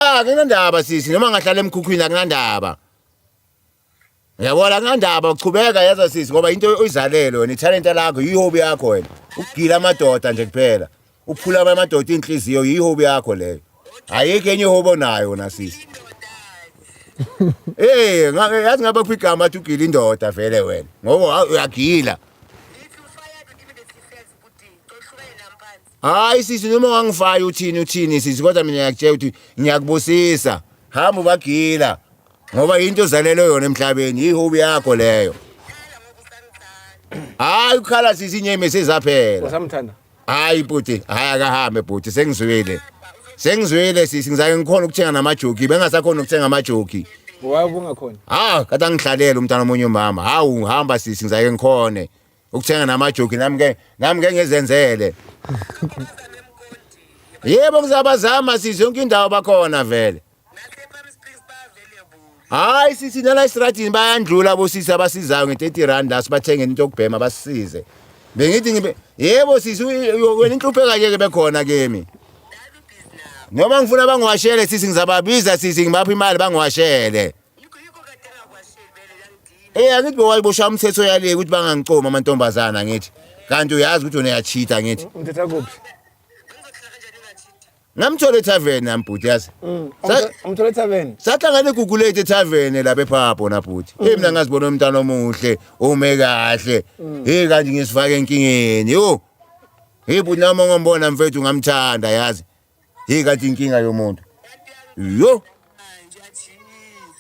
akunandaba sisi noma ngahlala emkhukhwini akunandaba yabona akunandaba uchubeka yaza sisi ngoba into oyizalele wena ithalenta lakho yihobi yakho wena ukugila amadoda nje kuphela uphula amadoda inhliziyo yihobi yakho leyo ayikho enye ihobi onayo wena sisi Eh, yazi ngaba kuphi igama athi ugila indoda vele wena. Ngoba uyagila. hayi sisi noma wangifayo uthini uthini sisi kodwa mina ngiyakutshela ukuthi ngiyakubusisa hamba ubagila ngoba yinto ozalelwe yona emhlabeni yihobi yakho leyo hayi ukhala sisi inyeme sezaphela usamthanda hayi bhuti hayi akahambe bhuti sengizwile sengizwile sisi ngizake ngikhona ukuthenga namajoki bengasakhona ukuthenga amajoki waye ubungakhona ha kade angihlalele umntana omunye umama hawu hamba sisi ngizake ngikhone ukuthenga namajoki nami ke nami ke ngezenzele yebo ngizabazama size yonke indawo bakhona vele hayi sithi nala esitradini bayandlula bosisi abasizayo nge-30 rand la sibathengele into yokubhema basisize bengithi ngibe yebo sisi wena inhlupheka yeke bekhona kimi noma ngifuna bangiwashele sisi ngizababiza sisi ngibapha imali bangiwashele Eh angithi bewayibosha umthetho yale ukuthi bangangicomi amantombazana ngithi. Kanti uyazi ukuthi wena uyachitha ngithi. Ngithetha kuphi? Ngamthole tavern nami bhuti yazi. Mm. Sa- Umthole tavern. Sahlangana eGugulate tavern lapha ePhapho na bhuti. Hey mina ngazibona umntana omuhle, ume kahle. Hey kanti ngisifaka enkingeni. Yo. Hey bhuti nami ngombona mfethu ngamthanda yazi. Hey kati inkinga yomuntu. Yo.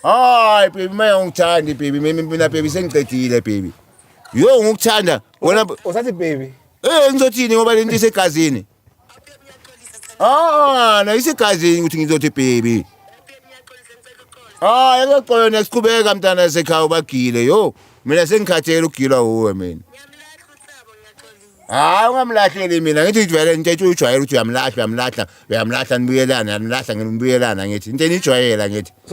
Hayi baby mina ngikuthandi baby mina mina baby sengiqedile baby. Yo ngikuthanda wena usathi baby. Eh ngizothini ngoba lento isegazini. Ah na isegazini ukuthi ngizothi baby. Ah yakuxola next qhubeka mntana sekhaya ubagile yo. Mina sengikhathele ukugilwa uwe mina. hayi ungamlahleli mina ngithi ngijwayele into ethi uyijwayele ukuthi uyamlahla uyamlahla uyamlahla nibuyelana yanilahla ngibuyelana ngithi into eniyijwayela ngithi